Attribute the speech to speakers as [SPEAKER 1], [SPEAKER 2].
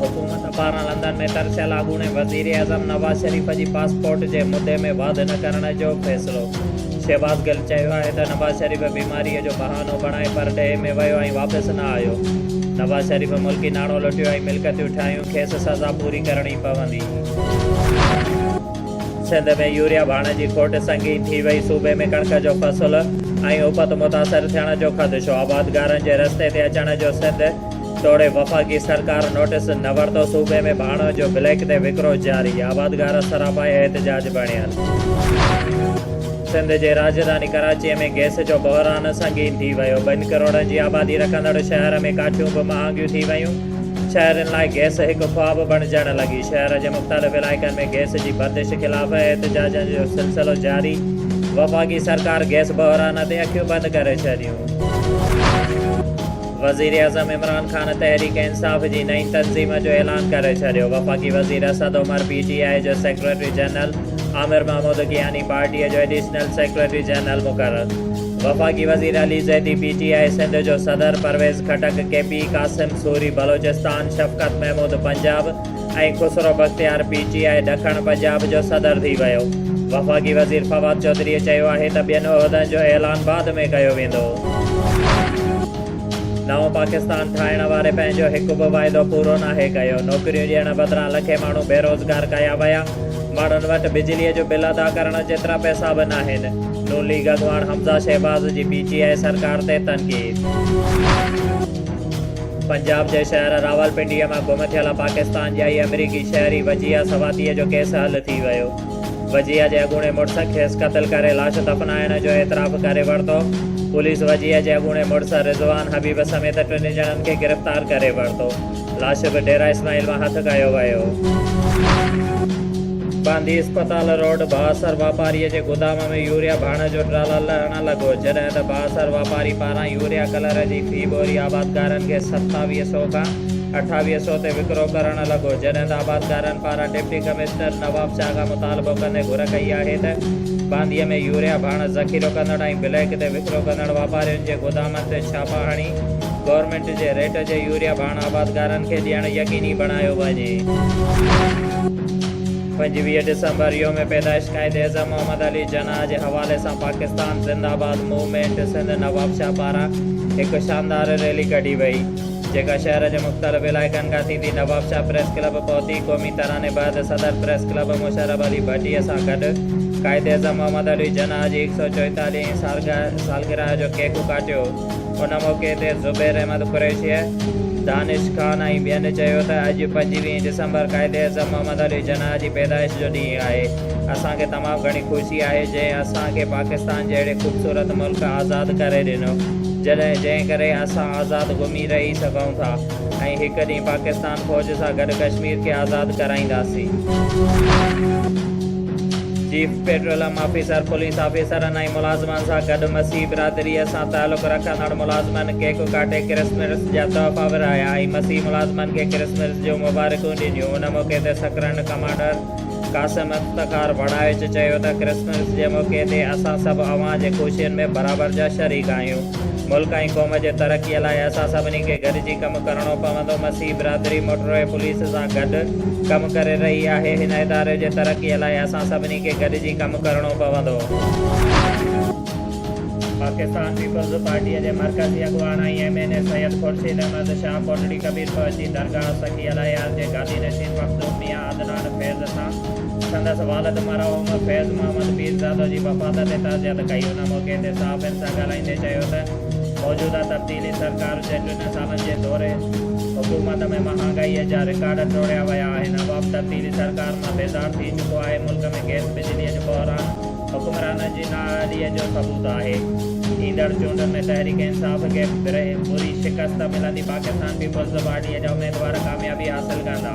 [SPEAKER 1] حڪومت پاران لندن ۾ ترسيل اڳوڻي وزيراعظم نواز شريف جي پاسپورٽ جي مدي ۾ واڌ نه ڪرڻ جو فيصلو، شهباز گل چيو آهي ته نواز شريف بيماري جو بهانو بڻائي پرڏيهه ۾ ويو ۽ واپس نه آيو، نواز شريف ملڪي ناڻو لٽيو ۽ ملڪيتون ٺاهيون، کيس سزا پوري ڪرڻي پوندي. سنڌ ۾ يوريا ڀاڻ جي کوٽ سنگين ٿي وئي، صوبي ۾ ڪڻڪ جو فصل ۽ اپت متاثر ٿيڻ جو خدشو، آبادگارن جي رستي تي اچڻ جو سنڌ توڙي وفاقي سرڪار نوٽيس نه ورتو، صوبي ۾ ڀاڻو جو بليڪ تي وڪرو جاري، آبادگار سراپا احتجاج بڻيل. سنڌ جي راڄڌاني ڪراچي ۾ گئس جو بحران سنگين ٿي ويو، ٻن ڪروڙن جي آبادي رکندڙ شهر ۾ ڪاٺيون به مهانگيون ٿي ويون، شهرين لاء گئس هڪ خواب بڻجڻ لڳي، شهر جي مختلف علائقن ۾ گئس جي بندش خلاف احتجاجن جو سلسلو جاري، وفاقي سرڪار گئس بحران تي اکيون بند ڪري ڇڏيون. وزيراعظم عمران خان تحريڪ انصاف جي نئين تنظيم جو اعلان ڪري ڇڏيو، وفاقي وزير Asad Umar P T I جو سيڪريٽري جنرل، عامر محمود ڪياني پارٽيء جو ايڊيشنل سيڪريٽري جنرل مقرر، وفاقي وزير Ali Zaidi P T I Sindh جو صدر، Pervez Khattak K P, Qasim Suri Balochistan, Shafqat Mehmood Punjab, ۽ Khusro Bakhtiar P T I ڏکڻ پنجاب جو صدر ٿي ويو. وفاقي وزير فواد چوڌريء چيو آهي ته ٻين عهدن جو اعلان بعد ۾ ڪيو ويندو. نئون پاڪستان ٺاهڻ واري پنهنجو هڪ به واعدو پورو ناهي ڪيو، نوڪريون ڏيڻ بدران لکين ماڻهو بيروزگار ڪيا ويا، ماڻهن وٽ بجليء جو بل ادا ڪرڻ جيترا پئسا به ناهن، نون ليگ اڳواڻ حمزه شهباز جي پي ٽي آء سرڪار تي تنقيد. پنجاب جي شهر راولپنڊيء مان گم ٿيل پاڪستان جي ۽ آمريڪي شهري وجيهه سواتيء جو ڪيس حل ٿي ويو. وجيهه جي اڳوڻي مڙس کيس قتل ڪري لاش دفنائڻ جو اعتراف ڪري ورتو. پوليس وجيهه جي اڳوڻي مڙس رضوان حبيب سميت ٽنهي ڄڻن کي گرفتار ڪري ورتو. لاش به ڊيره اسماعيل مان هٿ ڪيو ويو. باندي اسپتال روڊ بااثر واپاريء جي گودام ۾ يوريا ڀاڻ جو ٽرالا لهڻ لڳو، جڏهن ته بااثر واپاري پاران يوريا ڪلر جي هي ٻوري آبادگارن کي ستاويهه سؤ کان اٺاويهه سؤ تي وڪرو ڪرڻ لڳو، جڏهن ته آبادگارن پاران ڊپٽي ڪمشنر نواب شاهه کان مطالبو ڪندي گهر ڪئي آهي ته بانديء ۾ يوريا ڀاڻس ذخيرو ڪندڙ ۽ بليڪ تي وڪرو ڪندڙ واپارين جي گودامن تي ڇاپا هڻي گورنمينٽ جي ريٽ جي يوريا ڀاڻ آبادگارن کي ڏيڻ يقيني بڻايو وڃي. پنجويهه ڊسمبر يوم پيدائش قائد اعظم محمد علي جناح جي حوالي سان پاڪستان زنده آباد موومينٽ سنڌ نوابشاهه پاران هڪ شاندار ريلي ڪڍي وئي جيڪا شهر جي مختلف علائقن کان ٿيندي نوابشاهه پريس ڪلب پهتي قومي تراني بعد صدر پريس ڪلب مشرف علي ڀٽي سان گڏ قائد اعظم محمد علي جناح جي هڪ سؤ چوئيتاليهين سالگرهه جو ڪيڪ ڪاٽيو ان موقعي تي زبير احمد قريشيء، دانش خان ۽ ٻين چيو ته اڄ پنجويهه ڊسمبر قائداعظم محمد علي جناح جي پيدائش جو ڏينهن آهي، اسان کي تمام گهڻي خوشي آهي جنهن اسان کي پاڪستان جهڙي خوبصورت ملڪ آزاد ڪري ڏنو، جنهن ڪري اسان آزاد گهمي رهي سگهون ٿا. ۽ هڪ ڏينهن پاڪستان فوج سان گڏ ڪشمير کي آزاد ڪرائينداسين. چيف پيٽرولم آفيسر، پوليس آفيسرن ۽ ملازمن سان گڏ مسيحي برادريء سان تعلق رکندڙ ملازمن ڪيڪ ڪاٽي ڪرسمرس جا تحفا ورهايا ۽ مسيحي ملازمن کي ڪرسمرس جون مبارڪون ڏنيون، ان موقعي تي سڪرنڊ ڪمانڊر. قاسم افتخار بڙائچ چيو ته ڪرسمس جي موقعي تي اسان سڀ اوهان جي خوشين ۾ برابر جا شريڪ آهيون، ملڪ ۽ قوم جي ترقي لاء اسان سڀني کي گڏجي ڪم ڪرڻو پوندو، مسيحي برادري موٽروي پوليس سان گڏ ڪم ڪري رهي آهي، هن اداري جي ترقي لاء اسان سڀني کي گڏجي ڪم ڪرڻو پوندو. پاڪستان پيپلز پارٽي جي مرڪزي اڳواڻ ۽ M N A Syed Khurshid Ahmed Shah Kotri Kabir پهچي درگاهه سخي الهيار جي گادي نشين مخدوم ميان جنان فيض سان سندس والد مرحوم فيض محمد پيرزاده جي وفات تي تعزيت ڪئي. ان موقعي تي صحافين سان ڳالهائيندي چيو ته موجوده تبديلي سرڪار جي ٽن سالن جي دوري حڪومت ۾ مهانگائي جا رڪارڊ ٽوڙيا ويا آهن، عوام تبديلي سرڪار مان بيزار ٿي چڪو آهي، ملڪ ۾ گئس بجلي جو بحران حڪمرانن جي نااهلي جو ثبوت آهي. ايندڙ چونڊن ۾ تحريڪ انصاف کي بري شڪست ملندي، پاڪستان پيپلز پارٽي جا اميدوار ڪاميابي حاصل ڪندا.